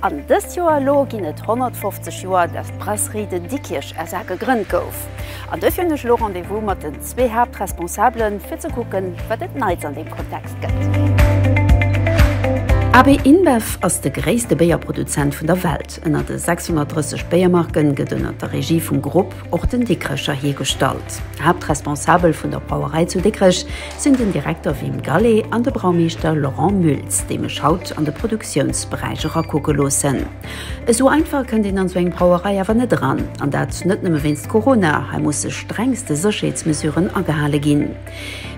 An dëst Joer elo ginn et 150 Joer, datt d'Brasserie de Dikkirch SA. gegrënnt gouf. An dofir hunn ech elo Rendez-vous mat den zwee Haaptresponsabele fir ze kucken, wat et Neits an deem Kontext gëtt. AB InBev ass de gréisste Béierproduzent vun der Welt. Ënner de 630 Béiermarken gëtt ënner der Regie vum Grupp. Och den Dikrecher hiergestallt. Haaptresponsabel vun der Brauerei zu Dikrech sinn den Direkter Wim Gallé an de Braumeeschter Laurent Mültz, déi mech haut an de Produktiounsberäich erakucke loossen. Esou einfach kënnt een an esou eng Brauerei awer net eran. An dat net nëmme wéinst Corona, hei musse strengste Sécherheetsmesuren agehale ginn.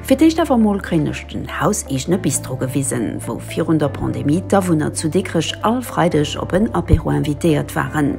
Fir d'éischt awer emol kréien ech den hauseegene Bistro gewisen, wou virun der Pandemie d'Awunner zu Dikrech all Freideg op en Apéro invitéiert waren.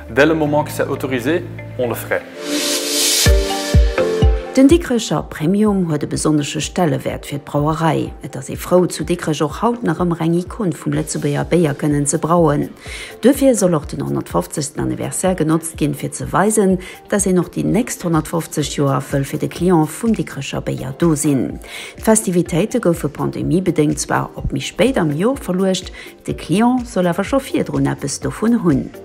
Dès le moment que c'est autorisé, on le ferait. Den Dikrecher Premium huet e besonnesche Stellewäert fir d'Brauerei. Et ass ee frou, zu Dikrech och haut nach ëmmer eng Ikon vum Lëtzebuerger Béier kënnen ze brauen. Duerfir soll och den 150. Anniversaire genotzt ginn, fir ze weisen, dass een och déi nächst 150 Joer wëll fir de Client vum Dikrecher Béier do sinn. D'Festivitéite goufe pandemiebedéngt zwar op méi spéit am Jor verluecht, de Client soll awer scho virdrun eppes dovun hunn.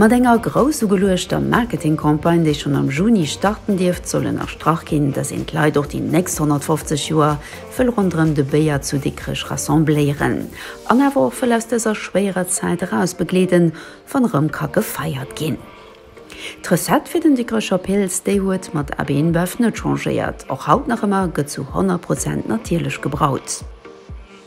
Mat enger grouss ugeluechter Marketingcampagne, déi schonn am Juni starten dierft, soll ënnerstrach ginn, datt een d'Leit och déi nächst 150 Joer wëll ronderëm de Béier zu Dikrech rassembléieren an awer och wëll aus dëser schwéierer Zäit eraus begleeden, wann erëm ka gefeiert ginn. D'Recette fir den Dikrecher Pils, déi huet mat AB InBev net changéiert, och haut nach ëmmer gëtt zu 100 Prozent natierlech gebraut.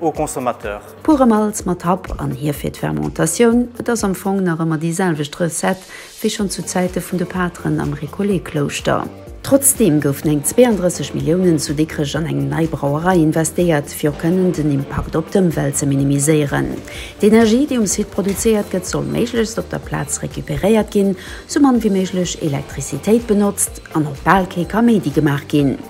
aux consommateurs. Pure Malt mat Happ an Hief fir d'Fermentatioun, et ass am Fong nach ëmmer déi selwecht Recette wéi schonn zu Zäite vun de Pateren am Récollet-Klouschter. Trotzdeem goufen eng 32 Milliounen zu Dikrech an eng nei Brauerei investéiert, fir och kënnen den Impakt op d'Ëmwelt ze minimiséieren. D'Energie, déi um Site produzéiert gëtt, soll méiglechst op der Plaz recuperéiert ginn, sou mann wéi méiglech Elektrizitéit benotzt an och bal kee Kaméidi gemaach ginn.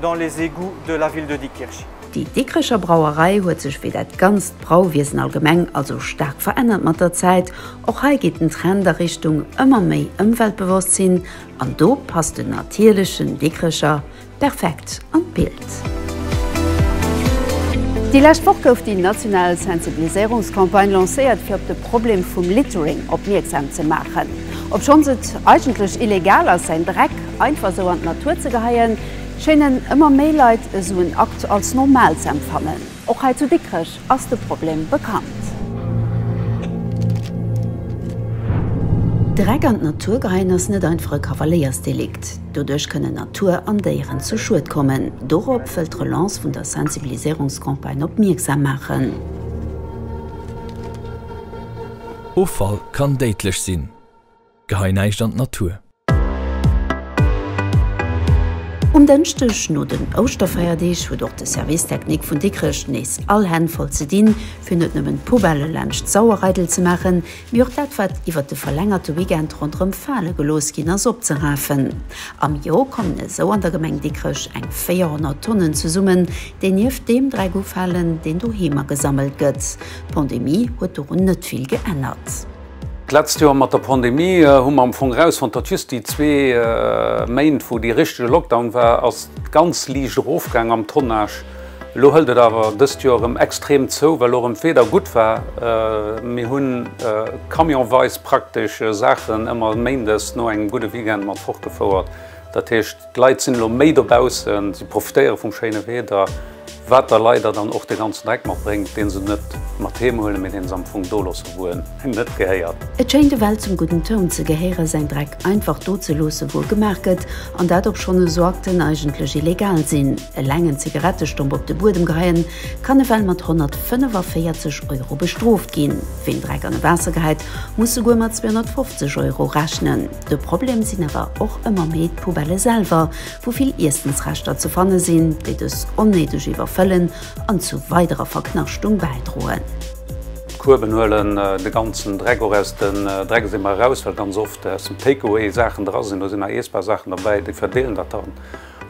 dans les égouts de la ville de Dikkirch. Déi Dikkrecher Brauerei huet sech wéi dat ganzt Brauwiesen allgemeng also staark verännert mat der Zäit. Och hei geet den Trend a Richtung ëmmer méi Ëmweltbewosstsinn an do passt den natierlechen Dikkrecher perfekt an d'Bild. Déi lescht Woch gouf déi national Sensibiliséierungscampagne lancéiert fir op de Problem vum Littering opmierksam ze maachen. Obschonns et eigentlech illegal ass säin Dreck Einfach esou an d'Natur ze geheien, schéinen ëmmer méi Leit esou en Akt als normal ze empfannen. Och hei zu Dikrech ass de Problem bekannt. Dreck an d'Natur geheien ass net einfach e Kavaléiersdelikt. Doduerch kënnen Natur an Déieren zu Schued kommen. Dorop wëllt d'Relance vun der Sensibiliséierungscampagne opmierksam maachen. Offall kann déidlech sinn. Gehei näischt an d'Natur. Um Dënschdeg no den Ouschterfeierdeeg huet och de Service Technique vun Dikrech nees all Hänn voll ze dinn, fir net nëmmen d'Poubellë laanscht d'Sauerreidel ze maachen, mee och dat wat iwwert de verlängerte Weekend ronderëm fale gelooss ginn ass opzerafen. Am Joer kommen esou an der Gemeng Dikrech eng 400 Tonnen zesummen, déi nieft deem Dreck ufalen, deen doheem agesammelt gëtt. D'Pandemie huet dorun net vill geännert. D'letzt Joer mat der Pandemie hu mer am Fong rausfonnt, datt just déi zwee Méint, wou dee richtege Lockdown war, ass ganz liicht erofgaang am Tonnage. Elo hëlt et awer dëst Joer erëm extrem zou, well och erëm d'Wieder gutt war. Mir hu camionsweis praktesch Saachen ëmmer méindes no engem gudde Weekend mat fortgefouert. Dat heescht. D'Leit sinn elo méi dobaussen, si profitéiere vum schéine Wieder, wat da leider dann och de ganzen Dreck mat bréngt, dee se net mat heem huelen, mee dee se am Fong do loossen, wou en engem net gehéiert. Et schéint ewell zum gudden Toun ze gehéieren, säin Dreck einfach do ze loossen, wou e gemaach gëtt, an dat obschonn esou Akten eigentlech illegal sinn. Eleng en Zigarettestomp op de Buedem geheien, kann ewell mat 145 Euro bestrooft ginn. Ween Dreck an e Waasser geheit, muss souguer mat 250 Euro rechnen. De Problem sinn awer och ëmmer méi d'Poubellë selwer, wou vill Iessensreschter ze fanne sinn, déi dës onnéideg iwwerfëllen an zu weiderer Verknaschtung bäidroen. D'Kueben huelen de ganzen Dreck och aus den Dreckseemer eraus, well ganz oft aus dem Takeaway Saachen dra sinn. Do sinn nach iessbar Saachen derbäi, déi verdeelen dat da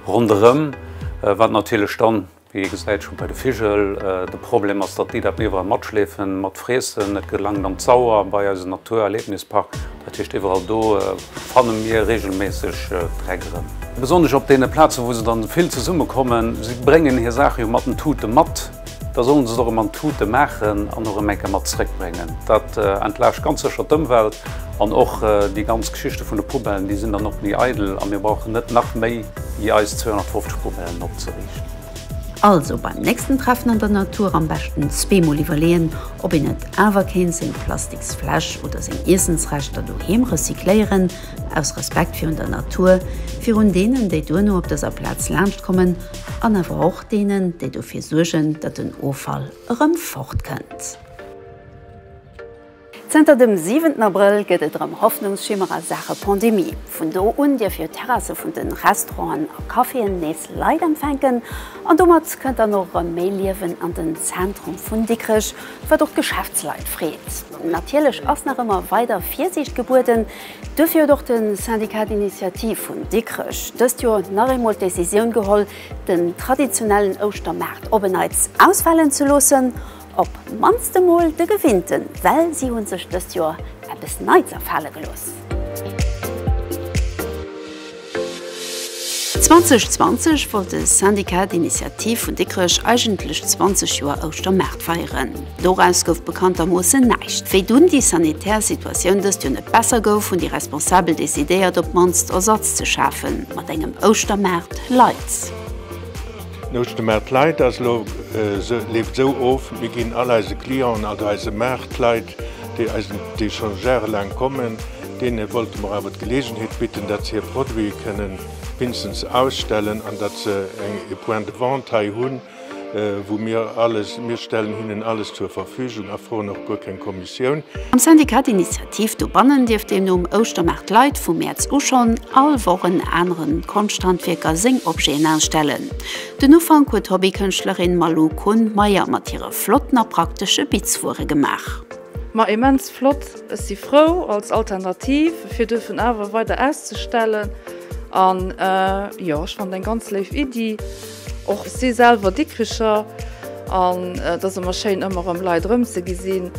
ronderëm, wat natierlech dann, Wéi ee gesäit, scho bei de Vigel, de Problem ass, datt déi dat iwwerall matschleefen, matfriessen. Et gelangt an d'Sauer, bei eise Naturerlebnispark. Dat heescht, iwwerall do fanne mir reegelméisseg Dreck erëm. Besonnesch op deene Plazen, wou se dann vill zesummekommen. Si bréngen hir Saache jo mat den Tute mat, da sollen se et och erëm an d'Tute maachen an erëm eng Kéier mat zeréckbréngen. Dat entlaascht ganz sécher d'Ëmwelt an och déi ganz Geschichte vun de Poubellen, déi sinn dann och méi eidel a mir brauchen net nach méi wéi eis 250 Poubellen opzeriichten. Also beim nächsten Treffen an der Natur am beschten zweemol iwwerleeën, ob een net awer kéint seng Plastiksfläsch oder seng Iessensreschter doheem recycléieren, aus Respekt virun der Natur, virun deenen, déi duerno op dëser Plaz laanscht kommen, an awer och deenen, déi dofir suergen, datt den Offall erëm fortkënnt. Zënter dem siwenten Abrëll gëtt et erëm Hoffnungsschimmer a Saache Pandemie. Vun do un dierf jo d'Terrasse vun de Restauranten a Caféen nees Leit empfänken an domat kënnt dann och erëm méi Liewen an den Zentrum vun Dikrech, wat och d'Geschäftsleit freet. Natierlech ass nach ëmmer weider Virsiicht gebueden, duerfir huet och de Syndicat d'Initiative vun Dikrech dëst Joer nach eemol d'Decisioun geholl, den traditionellen Ouschtermaart op en Neits ausfalen ze loossen. Op mannst emol de gewinnten, well si hunn sech dëst Joer eppes Neits afale gelooss. 2020 wollt de Syndicat d'Initiative vun Dikrech eigentlech 20 Joer Ouschtermaart feieren. Doraus gouf bekanntermoossen näischt. Wéi dunn déi sanitär Situatioun dëst Joer net besser gouf, hunn déi Responsabel decidéiert, op mannst Ersatz ze schafen, mat engem Ouschtermaart light. D'Nouschtemarkt-Lite ass elo, leeft esou of, mir ginn all eise Clienten, also eise Maartleit, déi eisen, déi scho jarelaang kommen, deene wollte mer awer d'Geleegenheet bidden, datt se hir Produite kënnen wéinstens ausstellen an datt se eng, e Point de vente hei hunn, wou mir alles, mir stellen hinnen alles zur Verfügung a froen och guer keng Kommissioun. Am Syndicat d'Initiative dobannen dierf deemno um Ouschtermaart Leit vu Mäerz u schonn all Woch en anere Konschthandwierker seng Objeten ausstellen. Den Ufank huet d'Hobbykënschtlerin Malou Kohn-Meyer mat hire flotten a praktesche Bitzwuere gemaach. Ma immens flott! Ech si frou als Alternativ fir duerfen awer weider auszestellen an jo ech fannt eng ganz léif Iddi. Och si selwer Dikricher an et ass ëmmer schéin ëmmer erëm Leit erëm ze gesinn.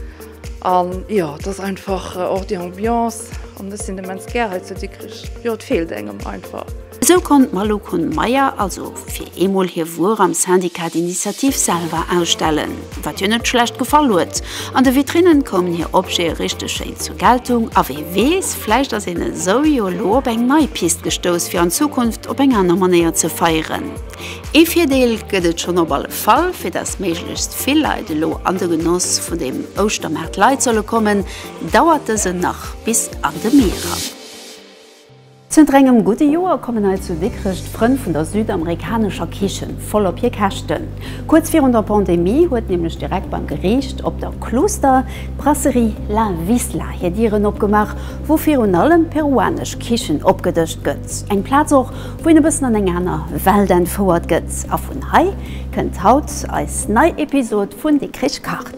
An jo et ass einfach och déi Ambiance an ech sinn immens gär hei zu Dikrich. Jo et feelt engem einfach. Esou konnt d'Malou Kuhn-Meyer also fir eemol hir Wuer am Syndicat d'Initiative selwer ausstellen. wat hir net schlecht gefall huet. An de Vitrinnen koumen hir Objete richteg schéin zur Geltung, a wee weess, vläicht ass een esou jo elo op eng nei Pist gestouss fir an Zukunft op eng aner Manéier ze feieren. Ee Virdeel gëtt et schonn op alle Fall, fir datt méiglechst vill Leit elo an de Genoss vun dem Ouschtermaart Light solle kommen, dauert dësen nach bis an de Mee eran. Zënter engem gudde Joer kommen hei zu Dikrech d'Frënn vun der südamerikanescher Kichen voll op hir Käschten. Kuerz virun der Pandemie huet nämlech direkt beim Geriicht op der Klooster d'Brasserie La Wisla hir Dieren opgemaach, wou virun allem peruanesch Kichen opgedëscht gëtt. Eng Plaz och, wou een e bëssen an eng aner Welt entfouert gëtt. A vun hei kënnt haut eis nei Episod vun Dikrech kacht.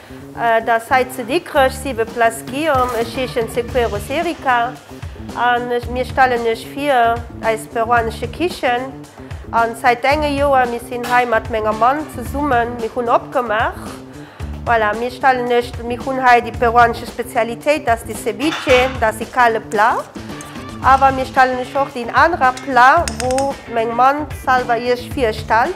Dass hei zu Dikrech 7 Place Guillaume, ech heeschen Sequeros Erika an mir stellen iech vir eis peruanesche Kichen an sait enge Joer mir sin hei mat menger Mann zesummen mir hun opgemaach voilà mir stellen iech mir hun hei déi peruanesche Spezialitéit dass die Ceviche dass sie kale Plat awer mir stellen iech och deen anerer Plat wou meng Mann selwer iech virstellt.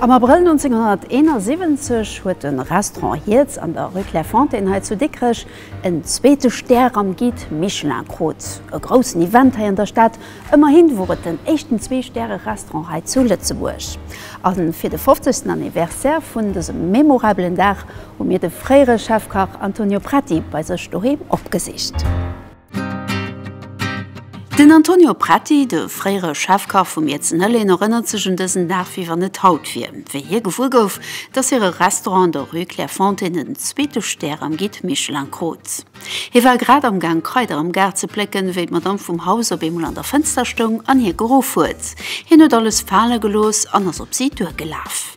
Am Abrëll 1971 huet de Restaurant Hierz an der Rue Clairefontaine hei zu Dikrech en zweete Stär am Guide Michelin krut. E groussen Event hei an der Stad, ëmmerhi wor et den éischten Zwee-Stäre-Restaurant hei zu Lëtzebuerg. A fir de fofzegsten Anniversaire vun dësem memorabelen Dag hu mir de fréiere Chefkach Antonio Prati bei sech doheem opgesicht. Den Antonio Pretti, de fréiere Chefkach vum Izen Hëllin, erënnert sech un dësen Dag, wéi wann et haut wier, wéi hie gewuer gouf, dass hire Restaurant an der Rue Clairefontaine en zweete Stär am Guide Michelin krut. Hie war grad am Gaang Kraider am Gaart ze plécken, wéi d'Madamm vum Haus op eemol an der Fënster stoung an hie geruff huet. Hien huet alles fale gelooss an ass op si duergelaf.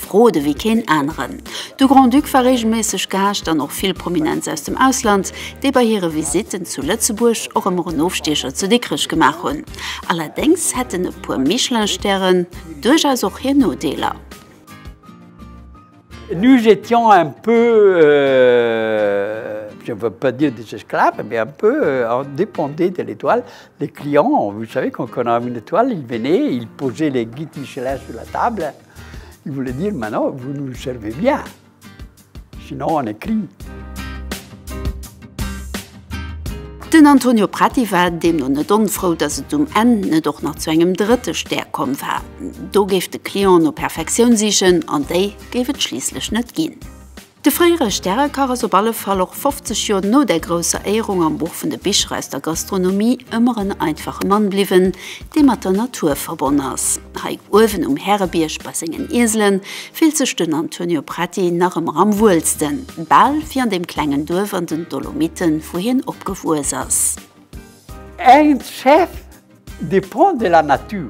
Rode wéi keen aneren. De Grand-Duc war reegelméisseg Gaascht an och vill Prominenz aus dem Ausland, déi bei hire Visitten zu Lëtzebuerg och ëmmer en Ofstiecher zu Dikrech gemaach hunn. Allerdéngs hätten e puer Michelin-Stären duerchaus och hir Nodeeler. Nous étions un peu, je ne veux pas dire des esclaves, mais un peu, on dépendait de l'étoile, les clients, vous savez, quand on avait une étoile, ils venaient, ils posaient les guides Michelin sur la table. Il voulait dire, maintenant vous nous servez bien, sinon on est cris. Den Antonio Prati war deemno net onfrou, datt et um Enn net och nach zu engem drëtte Stär komm war. Do géif de Client no Perfektioun sichen, an déi géif et schliisslech net ginn. De fréiere Stärekach ass op alle Fall och 50 Joer no der grousser Éierung am Buch vun de Bicher aus der Gastronomie ëmmer en einfache Mann bliwwen, dee mat der Natur verbonn ass. Hei uewen um Härebierg bei sengen Ieselen fillt sech den Antonio Prati nach ëmmer am wuelsten, bal wéi an deem klengen Duerf an den Dolomiten, wou hien opgewuess ass. Ernst Schäff, De Pont de la Nature,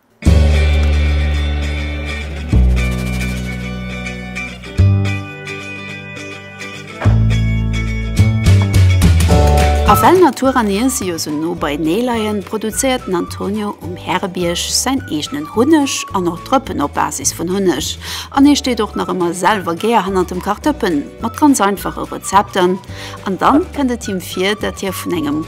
A well Natur an Iesse jo sou no beinee leien, produzéiert den Antonio um Härebierg säin eegenen Hunneg an och Drëppen op Basis vun Hunneg. An hie steet och nach ëmmer selwer gär hannert dem Kach Dëppen mat ganz einfache Rezepter. An da kënnt et him vir, datt hie vun engem.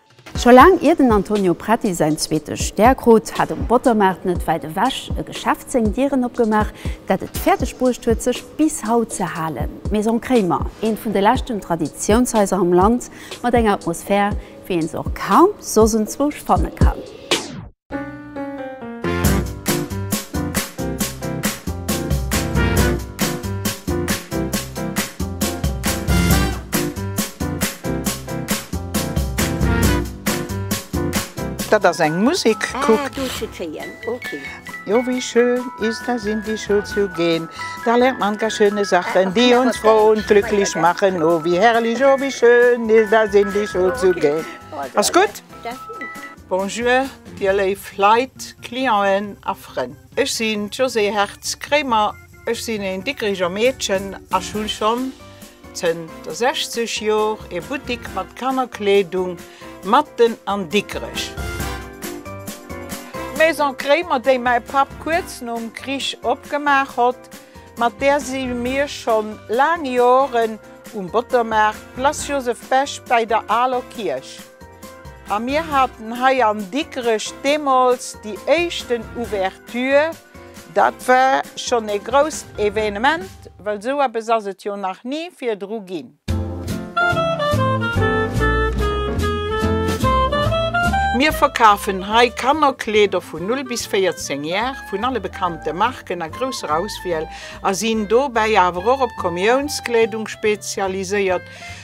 Scho laang ier den Antonio Preti säin zweete Stär krut, hat um Bottermaart net wäit ewech e Geschäft seng Dieren opgemaach, dat et fäerdeg bruecht huet, sech bis haut ze halen, D'Maison Kremer, eent vun de leschten Traditiounshaiser am Land, mat enger Atmosphär, wéi een se och kaum soss enzwousch fanne kann. Dat ass eng Musek, kuck! Jo, wie schön ist es, in die Schule zu gehen, da lernt man gar schöne Sachen, die uns froh und glücklich machen. Oh, wie herrlich, oh, wie schön ist es, in die Schule zu gehen! Ass gutt? Bonjour, Dir léif Leit, Clienten a Frënn. Ech sinn d'Josée Hertz-Kremer. Ech sinn een Dikkeriger Meedchen a hunn schonn zënter 60 Jor ee Buttik mat Kannerkleedung matten an Dikkerech. D'Maison Kremer, déi mäi Papp kuerz nom Krich opgemaach hott, mat där si mir schonn laang Joren um Bottermaart, Place Joseph Bech bäi der aler Kierch. A mir haten hei an Dikrech deemools déi éischten Ouverture. Dat war schonn ee grousst Evenement, well esou eppes ass et jo nach ni virdru ginn. Mir verkafen hei Kannerkleeder vun 0 bis 14 Jar vun alle bekannte Marken a grousser Auswiel a sinn dobäi awer och op Komiounskleedung spezialiséiert.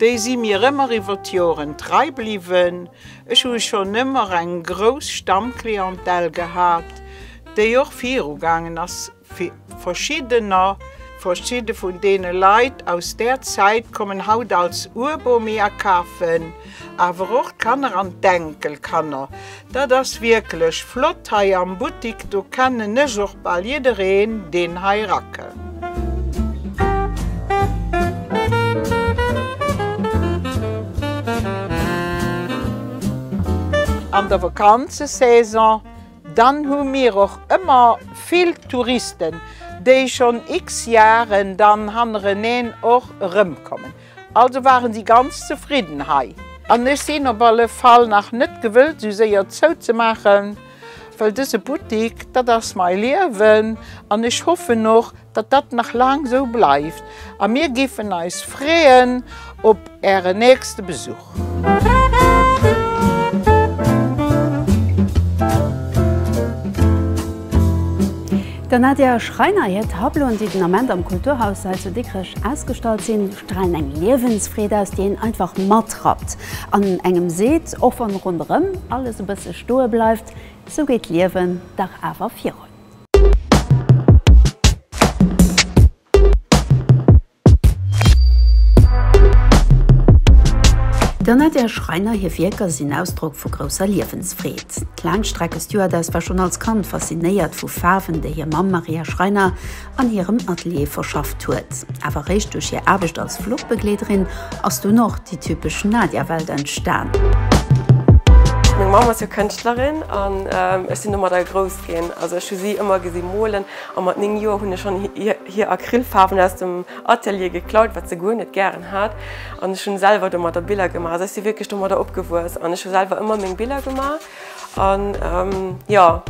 Déi si mir ëmmer iwwer d'Joren trei bliwwen. Ech hu schonn ëmmer eng grouss Stammclientèle gehat, déi och viru gaangen ass, verschiddener, verschidde vun deene Leit aus där Zäit kommen haut als Urbomi a kafen. Awer och d'Kanner an d'Enkelkanner. Dat ass wierklech flott hei am Buttik, do kennen ech och bal jiddereen deen hei erakënn. An der Vakanzesaison, dann hu mir och ëmmer vill Touristen, déi schonn x Jaren dann hannereneen och erëmkommen. Also waren sie ganz zefridden hei. An ech sinn op alle Fall nach net gewëllt sou séier zouzemaachen, well dëse Buttik, dat ass mai Liewen an ech hoffen och, datt dat nach laang sou bleift a mir géifen eis freeën op Äre nächste Besuch. Der Nadia Schreiner hir Tableauen, déi den Ament am Kulturhaus Sail zu Dikrech ausgestallt sinn, stralen eng Liewensfreed aus, déi een einfach matrappt an engem seet, och wann ronderëm alles e bësse stoe bleift, Sou geet d'Liewen dach awer virun. Der Nadège Schreiner hir Wierker sinn Ausdrock vu grousser Liewensfreed. D'Laangstreckestewardess war schonn als Kand faszinéiert vu Faarwen, déi hir Mamm Maria Schreiner an hirem Atelier verschafft huet. Awer eréischt duerch hir Aarbecht als Fluchbegleederin ass dunn och déi typesch Nadia-Welt entstan. Meng Mamm ass jo Kënschtlerin an ech sinn domadder grouss ginn. Also ech hu si ëmmer gesi molen a mat néng Joer hunn ech schonn hir Acrylfaarwen aus dem Atelier geklaut, wat se guer net gären hat, an ech hunn selwer domadder Biller gemaach. Also ech si wierklech domadder opgewuess an ech hu selwer ëmmer meng Biller gemaach. An jo,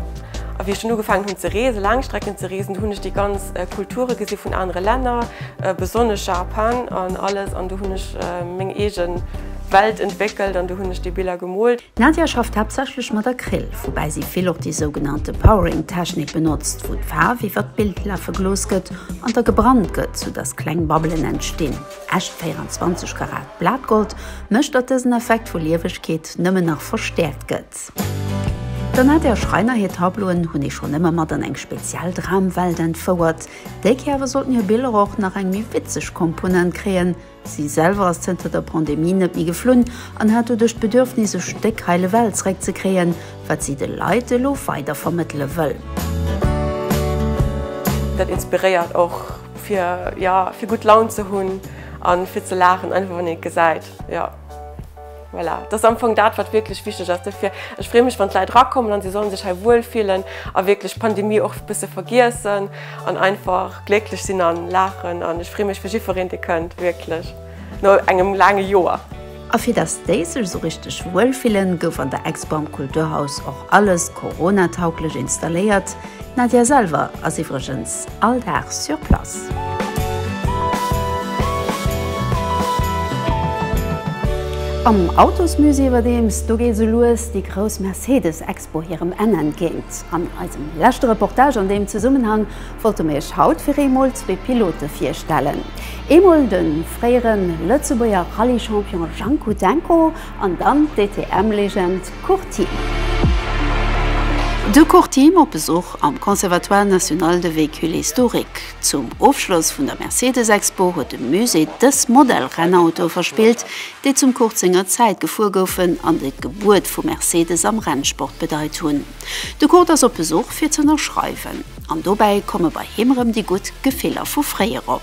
a wéi ech dunn ugefaangen hunn ze reesen, Laangstrecken ze reesen, do hunn ech déi ganz Kulture gesi vun anere Länner, besonnesch Japan an alles, an do hunn ech meng eege Welt entwéckelt an do hunn ech déi Biller gemoolt. D'Nadia schafft haaptsächlech mat Acryl, woubäi si vill och déi sougenannte Powering-Technik benotzt, wou d'Faarf iwwer d'Bild lafe gelooss gëtt an da gebrannt gëtt, sou dass kleng Babbelen entstinn. Echt 24 Karat Blatgold mécht, datt dësen Effekt vu Liewegkeet nëmmen nach verstäerkt gëtt. Der Nadia Schreiner hir Tableauen hunn ee schonn ëmmer mat an eng speziell Dramwelt entfouert. Déi Kéier awer sollten hir Biller och nach eng méi witzeg Komponent kréien, Si selwer ass zënter der Pandemie net méi geflunn an hat doduerch d'Bedürfnis, e Stéck Heil ewell zeréck ze kréien, wat si de Leit elo weider vermëttele wëll. Dat inspiréiert och fir, jo, fir gutt Laun ze hunn a fir ze laachen, einfach wann een et gesäit. Voilà, dat ass am Fong dat, wat wierklech wichteg ass. Dofir, ech freeë mech, wann d'Leit erakommen a se sollen sech hei wuel fillen a wierklech d'Pandemie och e bësse vergiessen an einfach glécklech sinn a laachen. An ech freeë mech fir jiddwereen, dee kënnt, wierklech no engem laange Joer. A fir dass déi sech esou richteg wuel fillen, gouf an der Expo am Kulturhaus och alles Corona-tauglech installéiert. D'Nadia selwer ass iwwregens all Dag sur place. Am Autosmusée iwwerdeems, do geet esou lues déi grouss Mercedes-Expo hirem Enn entgéint. An eisem leschte Reportage an deem Zesummenhang wollte mir iech haut fir eemol zwee Pilote virstellen. Eemol de fréiere Lëtzebuerger Rallye-Champion Jang Kudenko An dann d'DTM-Legend Courtine. De Courtine op Besuch am Conservatoire National de Véhicules Historiques. Zum Ofschloss vun der Mercedes-Expo huet de Musée dës Modell-Rennautoe verspillt, déi zum Kurt senger Zäit gefuer goufen an déi d'Gebuert vu Mercedes am Rennsport bedeit hunn. De Kurt ass op Besuch fir z'ënnerschreiwen. An dobäi komme bei him erëm déi gutt Gefiller vu fréier op.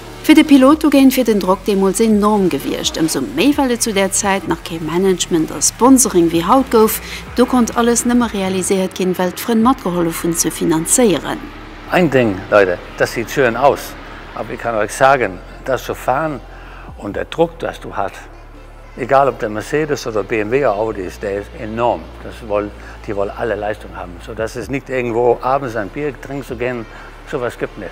Fir de Pilot dogéint wier den Drock deemools enorm gewiescht, ëmsou méi well et zu där Zäit nach kee Management a Sponsoring wéi haut gouf. Do konnt alles nëmme realiséiert ginn, well d'Frënn matgehollef hunn ze finanzéieren. Ein Ding, Leute, das sieht schön aus, aber ich kann euch sagen, das zu fahren und der Druck, das du hat, egal ob der Mercedes oder BMW oder Audi ist, der ist enorm. Das wollen, die wollen alle Leistung haben, so dass es nicht irgendwo abends an Bier trinken zu gehen, sowas gibt nicht.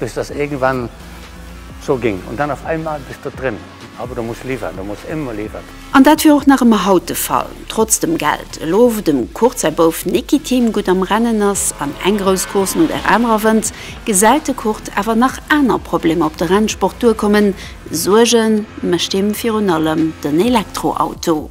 Bis dass irgendwann so ging und dann auf einmal bist du drin, aber du musst liefern, du musst immer liefern. An dat wier och nach ëmmer haut de Fall, trotz dem Geld. Elo wou dem Kurt säi Bouf Niki Team gutt am Rennen ass an eng grouss Course no der anerer wënnt, gesäit de Kurt awer nach aner Problemer op de Rennsport duerkommen. Suerge mécht him virun allem den Elektroauto.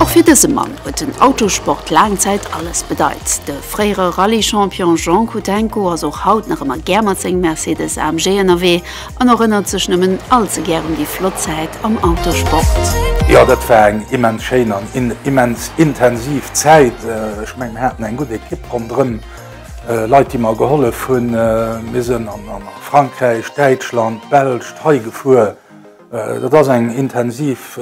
Och fir dëse Mann huet den Autosport laang Zäit alles bedeit. De fréiere Rallye-Champion Jean Kudenko ass och haut nach ëmmer gär mat sengem Mercedes AMG ënnerwee an erënnert sech nëmmen all ze gär un déi flott Zäit am Autosport. Jo, dat war eng immens schéin an immens intensiv Zäit. Ech mengen, mir haten eng gutt Ekipp ronderëm. Leit déi mer gehollef hunn. Mir sinn an Frankräich, Däitschland, d'Belsch, d'Hai gefuer. Dat ass eng intensiv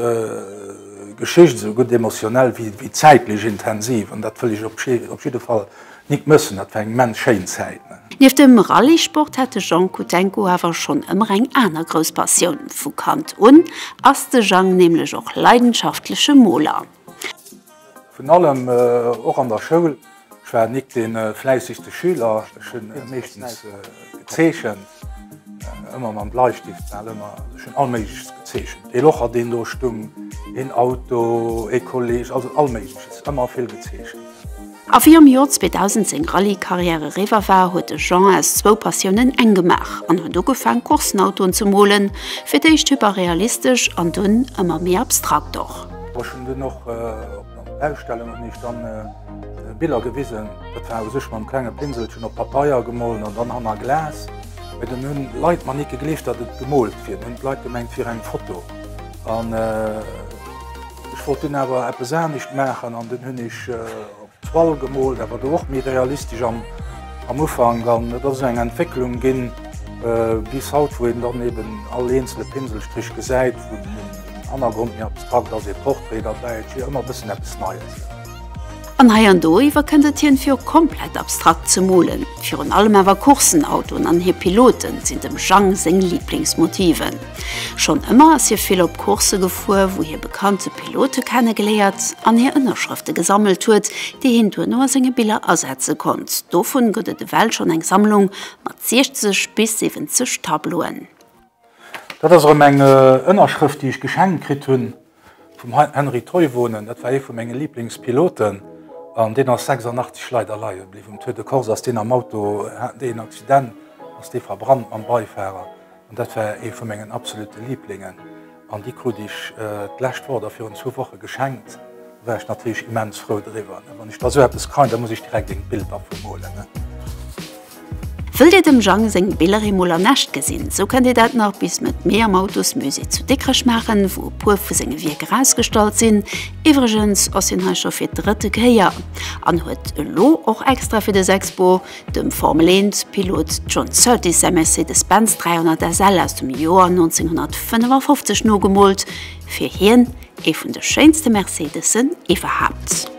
Geschicht, esou gutt emotionell wéi zäitlech intensiv an dat wëll ech op jidde Fall nik mëssen. Dat war eng immens schéin Zäit. Nieft dem Rallye-Sport hat de Jang Kudenko awer schonn ëmmer eng aner grouss Passioun. Vu Kand un ass de Jang nämlech och leidenschaftleche Moler. Vun allem, och an der Schoul. Ech war nik de fläissigste Schüler, ech hunn meeschtens gezeechent, ëmmer mam Bleistift, war ëmmer, ech hunn all Méigleches gezeechent, ee Locher deen do stung, een Auto, ee Kolleg, also all Méigleches, ëmmer vill gezeechent. A wéi am Joer 2000 seng Rallye-Karriär eriwwer war, huet de Jean aus zwou Passiounen eng gemaach an huet ugefaang Coursenautoen ze molen, fir d'éischt hyperrealistesch an dunn ëmmer méi abstrakt och. Ech hunn dunn och op der Ausstellung hunn ech dann Biller gewisen. Dat war u sech mam klenge Pinselchen op Papeier gemollen an dann hanner Glas. Mee dann hunn d'Leit mer nit gegleeft, datt et gemoolt wier. Dann hunn d'Leit gemengt, et wier eng Foto. An ech wollt dunn awer eppes anescht maachen an dunn hunn ech. Toile gemoolt, awer do och méi realistesch am Ufank. An et ass esou eng Entwécklung ginn bis haut, wou een dann eeben all eenzele Pinselstrich gesäit, wou den Hannergrond méi abstrakt ass, ee Portrait derbäi, et wier ëmmer e bëssen eppes Neies. An hei an do iwwer kënnt et hien, fir och komplett abstrakt ze molen. Virun allem awer Coursenautoen an hir Pilote sinn dem Jang seng Liblingsmotiven. Schonn ëmmer ass hie vill op Coursse gefuer, wou hie bekannte Pilote kenne geléiert an hir Ënnerschrëfte gesammelt huet, déi hien duerno a senge Biller asetze konnt. Dovun gëtt et ewell schonn eng Sammlung mat 60 bis 70 Tableauen. Dat ass erëm eng Ënnerschrëft, déi ech geschenkt kritt hunn. Vum Henri Toivonen, dat war ee vu menge Liblingspiloten an deen ass 86 leider leie bliwwen. Um Tour de Corse ass deen am Auto, haten déi een Accident, ass dee verbrannt mam Beifahrer an dat war ee vu mengen absolute Liblingen an déi krut ech d'lescht Woch oder virun zwou Woche geschenkt. Do war ech natierlech immens frou driwwer. Wann ech da esou eppes kréien, da muss ech direkt ee Bild dervu molen. Wëll dir dem Jang seng Biller eemol an echt gesinn, esou kënnt dir dat nach bis Mëtt Mee am Autosmusée zu Dikrech maachen, wou e puer vu senge Wierker ausgestallt sinn. Iwwregens ass hien hei scho fir d'drëtte Kéier an huet elo och extra fir dës Expo dem Formel 1 Pilot John Surtees säi Mercedes-Benz 300 SL aus dem Joer 1955 nogemoolt, fir hien ee vun de schéinste Mercedesen iwwerhaapt.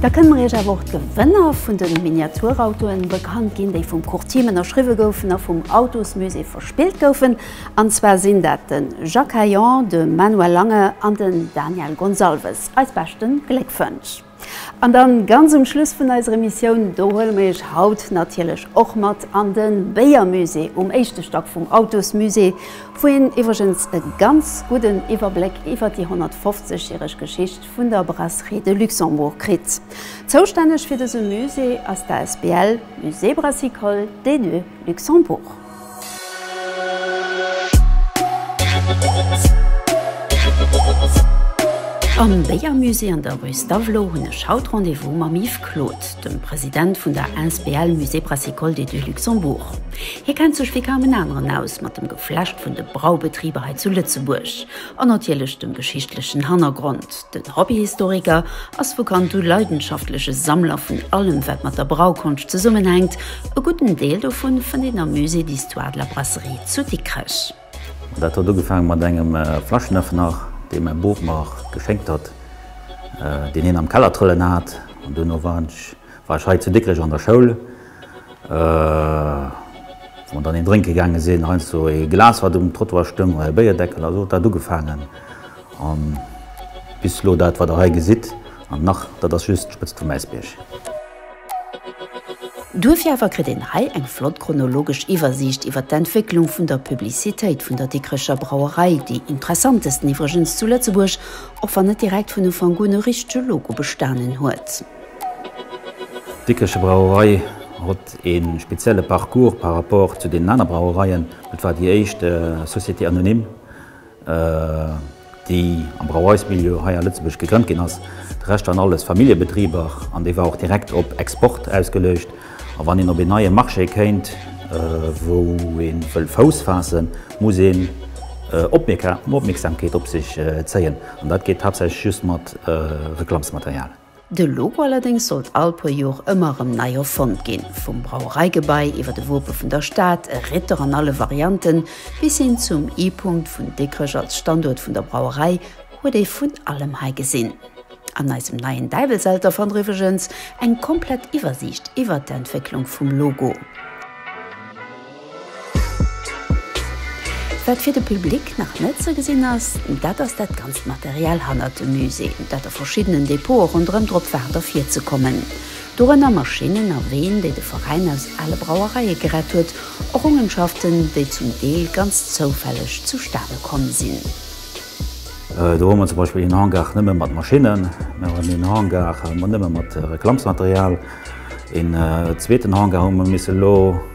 Da kënne mer Iech awer och d'Gewënner vun de Miniaturautoen bekannt ginn, déi vum Courtim ënnerschriwwe goufen a vum Autosmusée verspillt goufen. An zwar sinn dat de Jacques Heillan, de Manuel Lange an den Daniel Gonsalves. Eis beschte Gléckwënsch! An dann, ganz um Schluss vun eiser Emissioun, do huele mer Iech haut natierlech och mat an de Béiermusée um éischte Stack vum Autosmusée, wou een iwwregens e ganz gudden Iwwerbléck iwwer déi 150 järeg Geschicht vun der Brasserie de Luxembourg kritt. Zoustänneg fir dëse Musée ass d'ASBL Musée Brassicole des Deux Luxembourg. Am Béiermusée an der rue Stavelot hunn ech haut Rendez-vous mam Yves Claude, dem President vun der asbl Musée Brassicole des Deux Luxembourg. Hie kennt sech wéi kaum en aneren aus mat dem Geflecht vun de Braubetriber hei zu Lëtzebuerg. An natierlech dem geschichtlechen Hannergrond. Den Hobbyhistoriker ass vu Kand u leidenschaftleche Sammler vun allem, wat mat der Braukonscht zesummenhänkt. E gudden Deel dovu fënnt een am Musée d'histoire de la brasserie zu Dikrech. Dat huet ugefaange mat engem Flaschenëffner, dee mäi Boob mer geschénkt hat, deen hien am Keller trëllen hat. An duerno war ech hei zu Dikrech an der Schoul Wa mer dann een drénke gaange sinn, heiansdo ee Glas, wat um Trottoir stoung, oder e Béierdeckel, also huet dat ugefaangen. A bis elo dat, wat Der hei gesitt, an nach, dat ass just d'Spëtzt vum Äisbierg. Duerfir awer kritt een hei eng flott chronologesch Iwwersiicht iwwert d'Entwécklung vun der Publicitéit vun der Dikrecher Brauerei, déi interessantesten iwwregens zu Lëtzebuerg, och wann net direkt vun Ufank un e richtege Logo bestanen huet. D'Dikricher Brauerei hott een spezielle Parcours par rapport zu deenen aner Brauereien. Et war déi éischt Société anonyme déi am Brauereismilieu hei a Lëtzebuerg gegrënnt ginn ass. De Rescht waren alles Familljebetriber an déi war och direkt op Export ausgeleucht. A wann een op een neie Marché kéint wou een wëll Fouss faassen muss een Opmierksamkeet op sech zéien an dat geet haaptsächlech just mat Reklammsmaterial. De Logo allerdéngs sollt all puer Jor ëmmer erëm nei erfonnt ginn, vum Brauereigebai iwwer e Wope vun der Stad, e Ritter an alle Varianten, bis hin zum I-Punkt vun Dikrech als Standuert vun der Brauerei, huet ee vun allem hei gesinn. An eisem neien Däiwelselter fannt der iwwregens eng komplett Iwwersiicht iwwert d'Entwécklung vum Logo. Wat fir de Public nach net ze gesinn ass, dat ass dat ganzt Material hannert dem Musée, dat a verschiddenen Depote ronderëm drop waart ervirzekommen. Dorënner Maschinnen a Ween, déi de Veräin aus ale Brauereie gerett huet, Errongenschaften, déi zum Deel ganz zoufälleg zustane komm sinn. Do hu mer zum Beispill een Hangar nëmme mat Maschinnen, mir hunn een Hangar nëmme mat Reklamsmaterial, een zweeten Hangar hu mer misse lo,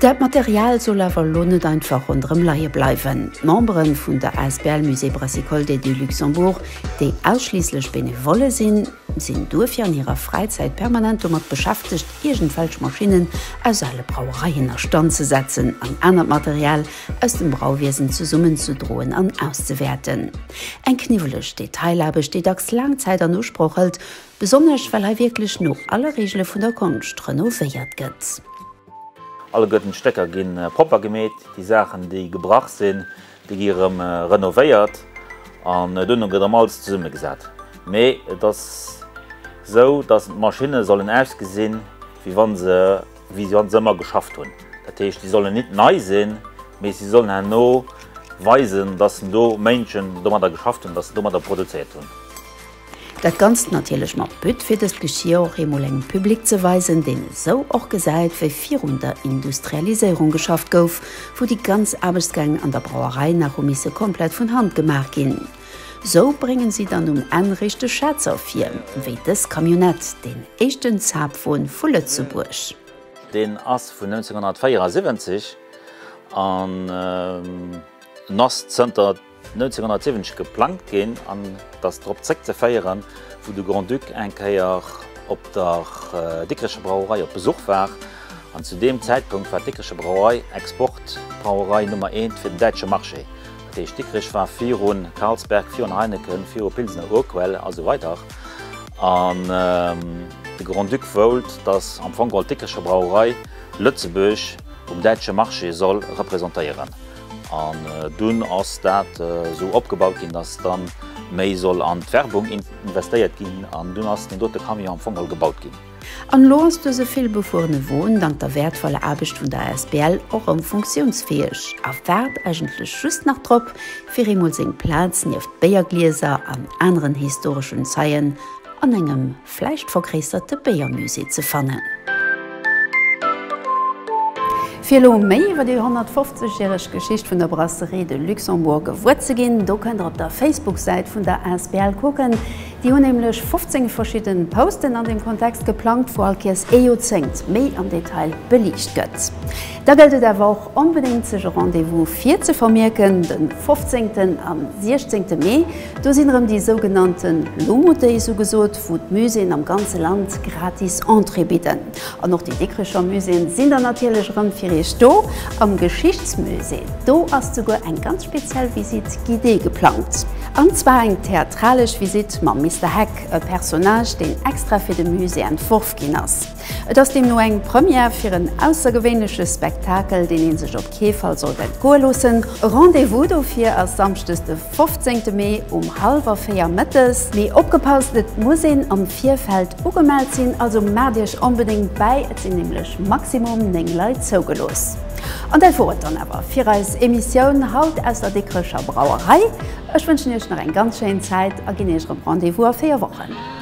Dat Material soll awer elo net einfach ronderëm leie bleiwen. D'Membere vun der asbl Musée Brassicole des Deux Luxembourg, déi ausschliisslech Benevolle sinn, sinn duerfir an hirer Fräizäit permanent domat beschäftegt, iergendwelch Maschinnen aus ale Brauereien a Stand ze setzen an anert Material aus dem Brauwiesen zesummenzedroen an auszewäerten. Eng kniwweleg Detailaarbecht, déi dacks laang Zäit an Usproch hëlt, Besonnesch well hei wierklech no alle Reegele vun der Konscht renovéiert gëtt. Alleguerten d'Stécker gi propper gemeet, déi Saachen déi gebrach sinn, déi gi rëm renovéiert an duerno gëtt erëm alles zesumme gesat. Mee et ass esou, datt d'Maschinne sollen ausgesinn, wéi wa se ëmmer geschafft hunn. Dat heescht, si sollen nit nei sinn, mee si sollen herno weisen, datt do Méinschen domadder geschafft hunn, datt se domadder produzéiert hunn. Dat Ganzt natierlech mat But, fir dëst Geschir och eemol engem Public ze weisen, deen esou och gesäit, wéi virun der Industrialiséierung geschafft gouf, wou déi ganz Aarbechtsgäng an der Brauerei nach hu misse komplett vun Hand gemaach ginn. Esou bréngen si dann um Enn réischt de Schätz ervir, wéi dës Camionnette, deen éischten Zapfwon vu Lëtzebuerg. Deen ass vun 1974 an ass zënter. 1970 geplangt ginn an dass drop zréck ze féieren, wou de Grand-Duc eng Kéier op der Dikrecher Brauerei op Besuch war. An zu deem Zäitpunkt war d'Dikrecher Brauerei Export-Brauerei Nummer eent fir den däitsche Marché. Dat heescht, Dikrech war viru Carlsberg, viru Heineken, viru Pilsener Urquell a sou weider. An de Grand-Duc woult, dass am Fong geholl d'Dikrecher Brauerei Lëtzebuerg um däitsche Marché soll representéieren. An dunn ass dat esou opgebaut ginn, dass da méi soll an d'Werbung investéiert ginn. An dunn ass deen dote Camion am Fong all gebaut ginn. An elo ass dëse villbefuerene Won dank der wäertvoller Aarbecht vun der asbl och erëm funktiounsfäeg a waart eigentlech just nach drop, fir eemol seng Plaz nieft Béierglieser an aneren historeschen Zeien an engem. Vläicht vergréissert de Béiermusée ze fannen. Fir elo méi iwwer déi 150 järeg Geschicht vun der Brasserie de Luxembourg gewuer ze ginn, do kënnt der op der Facebook-Säit vun der Asbl kucken. Déi hunn nämlech 15 verschidden Posten an deem Kontext geplangt, wou all Kéiers ee Joerzéngt méi am Detail beliicht gëtt. Da gëllt et awer och onbedéngt sech e Rendez-vous fir ze vermierken, den 15. an 16. Mee. Do sinn erëm déi sougenannte Lomo Days ugesot, wou d'Muséeën am ganze Land gratis Entrée bidden. An och déi Dikrecher Muséeën sinn dann natierlech erëm fir Iech do. Am Geschichtsmusée, do ass souguer eng ganz speziell Visite guidée geplangt. An zwar eng theatralesch Visite mam Mister Heck, e Personnage, deen extra fir de Musée entworf ginn ass. Et ass deemno eng Première fir en aussergewéinleche Spektakel, deen ee sech op kee Fall sollt entgoe loossen. E Rendez-vous dofir ass samschdes de 15 Mee um hallwer véier mëttes. Mee opgepasst, et muss een am Virfeld ugemellt sinn, also maacht iech onbedéngt bäi, et sinn nämlech maximum 9 Leit zougelooss. An dat wor et dann awer fir eis Emissioun haut aus der Dikrecher Brauerei. Ech wënschen iech nach eng ganz schéin Zäit a ginn iech erëm Rendez-vous a 4 Wochen.